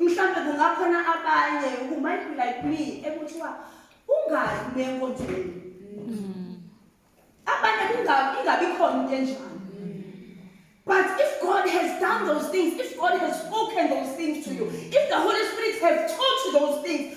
Mhlawumbe kungakhona abanye who might be like me ekuthiwa ungayi kule nkonzweni. Abanye kungabi ingabi khona into enjalo. But if God has done those things, if God has spoken those things to you, if the Holy Spirit has taught you those things,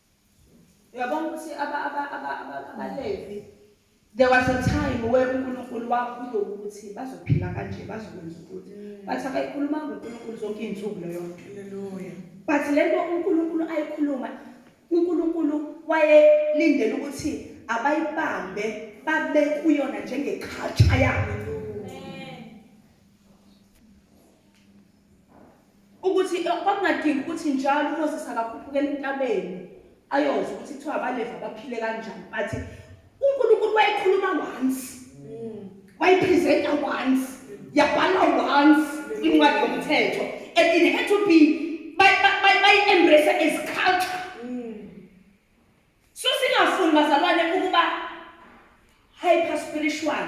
Uyabona ukuthi abaLevi there was a time where uNkulunkulu wakhuluma ukuthi bazophila kanje bazokwenza ukuthi mm. bathi abayikhuluma ngoNkulunkulu zonke izinsuku leyo nto. Hallelujah. But lento uNkulunkulu ayikhuluma uNkulunkulu wayelindele ukuthi abayibambe babe kuyona njengeculture yabo. ukuthi eh, kwakungadingi ukuthi njalo uMoses akakhuphukela entabeni ayozwa ukuthi kuthiwa abaleva baphile kanjani bathi uNkulunkulu wayekhuluma once mm. wayipresenta once yabhalwa once incwadi yomthetho and it had to be bayi-embrace as culture mm. so singafuni bazalwane ukuba hyper spiritual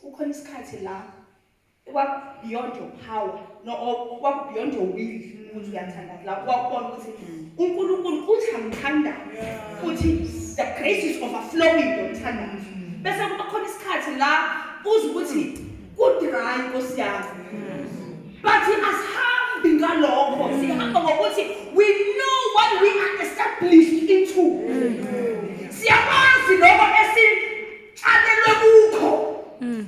Kukhona isikhathi la kwakubeyond your power no kwakubeyond your will ukuthi uyathanda la kwakubona ukuthi uNkulunkulu uthi angithanda futhi the grace is overflowing ngithanda bese kuba khona isikhathi la uze ukuthi ku dry nkosi yami but asihambi ngalokho sihamba ngokuthi we know what we are established into siyakwazi lokho esi Tshalelwe kukho. Mm.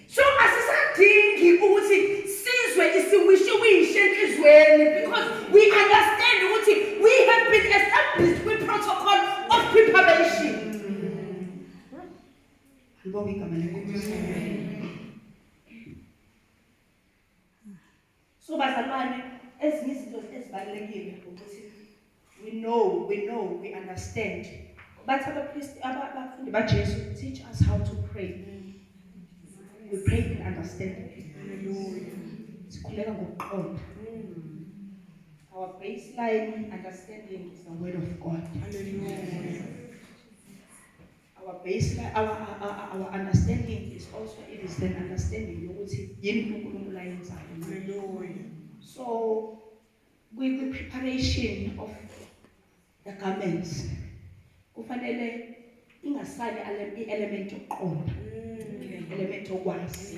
So asisadingi ukuthi sizwe isiwishiwishi enhlizweni because we understand ukuthi we have been established with protocol of preparation. Ngibonga igama lenkosi. So bazalwane ezinye izinto ezibalulekile ukuthi we know, we know, we understand. Bathi abapristi abafundi baJesu teach us how to pray. We pray in understanding. Hallelujah. Sikhuleka ngokuqonda. Our baseline understanding is the word of God. Hallelujah. Our baseline, our, our, our understanding is also it is an understanding yokuthi yini uNkulunkulu ayenzayo. Hallelujah. So kwi preparation of the garments kufanele ingasali i-element yokuqonda mm. element yokwazi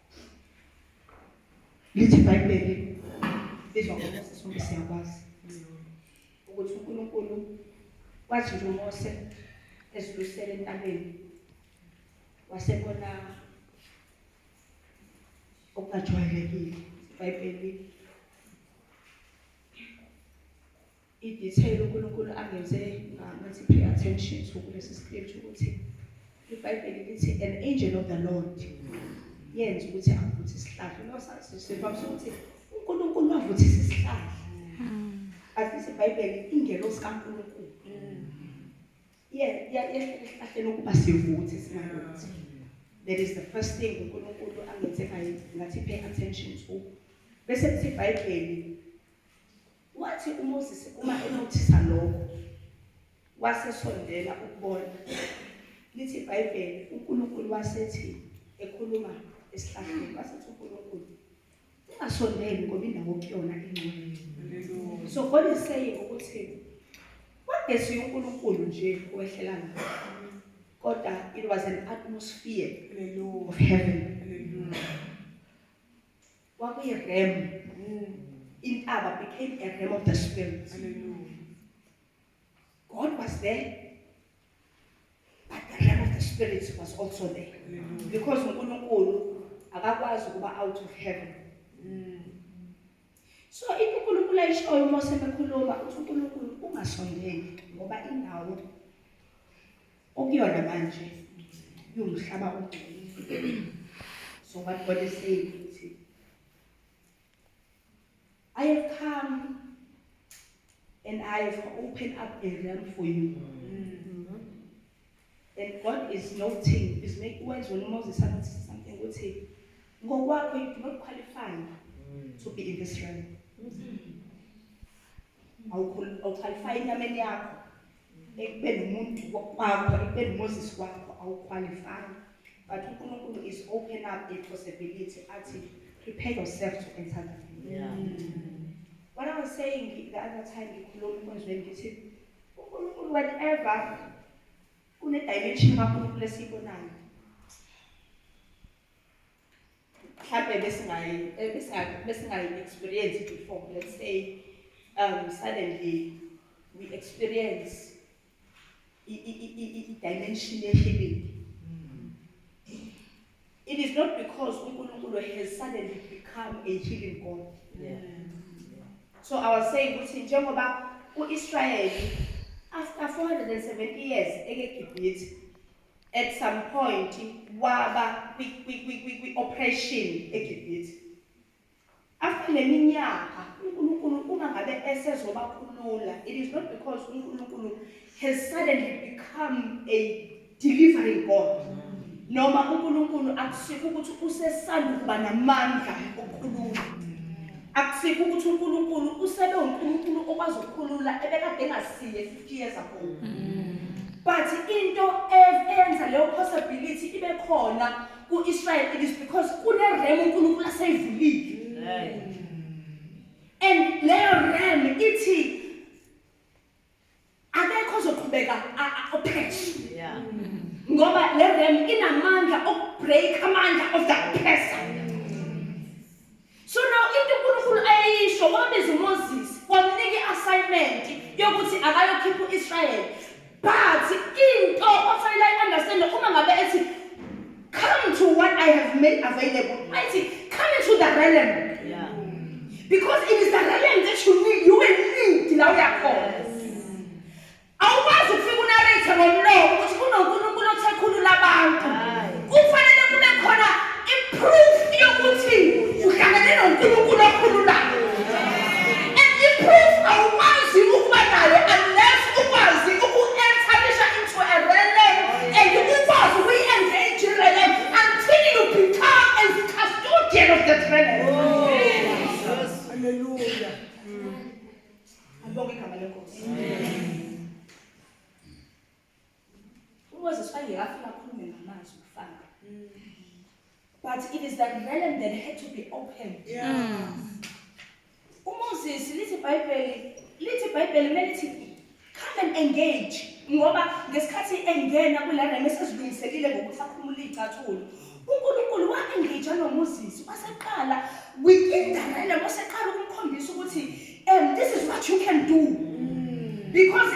Lithi iBhayibheli lizwa ngoMose sonke siyakwazi ukuthi uNkulunkulu wathi nje uMose ezilusele entabeni wasebona okungajwayelekile iBhayibheli I detail uNkulunkulu angenze ngathi pay attention to kulesi script ukuthi iBhayibheli lithi an angel of the Lord yenza ukuthi avuthe isihlahla lo sasivamisa ukuthi uNkulunkulu wavuthisa isihlahla asithi iBhayibheli ingelosi kaNkulunkulu yesihlahleni ukuba sivuthe singavuthi that is the first thing uNkulunkulu angenze ngayo ngathi pay attention to bese kuthi iBhayibheli Wathi uMoses uma enothisa lokho, wasesondela ukubona. Lithi iBhayibheli, uNkulunkulu wasethi ekhuluma esihlahleni, wasethi uNkulunkulu, ungasondeli ngoba indawo kuyona ingcwele. So God is saying ukuthi wagesi uNkulunkulu nje owehlela lapho kodwa it was an atmosphere of heaven Kwakuyi realm. Intaba became a realm of the spirit. Hallelujah. God was there. But the realm of the spirit was also there. Hallelujah. Because uNkulunkulu akakwazi ukuba out of heaven. Mm. So into uNkulunkulu ayishoyo uma sebekhuluma uthi uNkulunkulu ungasondeli ngoba indawo okuyona manje iwumhlaba ongcolile so what god is saying ukuthi i have come and i have opened up a realm for you mm-hmm. and god is noting is make wenza wena moses something ukuthi ngokwakho you do not qualify mm. to be in this realm mm -hmm. awukhwalifaya enyameni yakho ekubeni umuntu kwakho ekubeni umoses kwakho awukhwalifaya but unkulunkulu is open up a possibility athi prepare yourself to enter the yeah. what i was saying the other time ngikhuluma enkonzweni ngithi unkulunkulu whenever kunedimension kakhulunkulu esiyibonayo mhlampe besingayi besingayi experience before let's say um suddenly we experience i-dimension ye-healing it is not because uNkulunkulu has suddenly become a healing God yeah. so i was saying ukuthi njengoba uIsrayeli after 470 years ekeGibhithe At some point waba kwi kwi kwi kwi kwi operation eGibhithe. After leminyaka uNkulunkulu uma ngabe esezobakhulula it is not because uNkulunkulu has suddenly become a delivering God. Noma uNkulunkulu akusikho ukuthi usesanda ukuba namandla okukhulula. Akusikho ukuthi uNkulunkulu usebe uNkulunkulu okwazi ukukhulula ebekade engasiye years ago but into eyenza leyo possibility ibe khona ku-israel it is because kunerem unkulunkulu aseyivulile and leyo rem ithi akekho ozoqhubeka opheshi ngoba le rem inamandla okubreak amandla of that person So now into uNkulunkulu ayeyisho wabiza uMoses wamnika i-assignment yokuthi akayokhipha u-Israyeli but into ofanele ayi-understande uma ngabe ethi come to what I have made available ayithi come into the realm yeah. because it is the realm that you need you will need la uyakhona Awukwazi ukufika unareythe ngomlomo ukuthi kunoNkulunkulu othe khulula abantu. Kufanele kube khona i-proof yokuthi uhlangane noNkulunkulu okhululayo. And i-proof awukwazi ukuba nayo unless ukwazi uku-establish into a realm and ukwazi ukuyi-engage i-realm until you become a custodian of that realm. Ngibonge igama lenkosi. UMoses wayengekafika akhulume ngamazwi kufana. But it is that realm that had to be opened. Yeah. UMoses lithi iBhayibheli lithi iBhayibheli kumele lithi come and engage ngoba ngesikhathi engena kula realm esezilungiselile ngokuthi akhumule izicathulo uNkulunkulu wangija noMoses waseqala within the realm waseqala ukumkhombisa ukuthi um this is what you can do because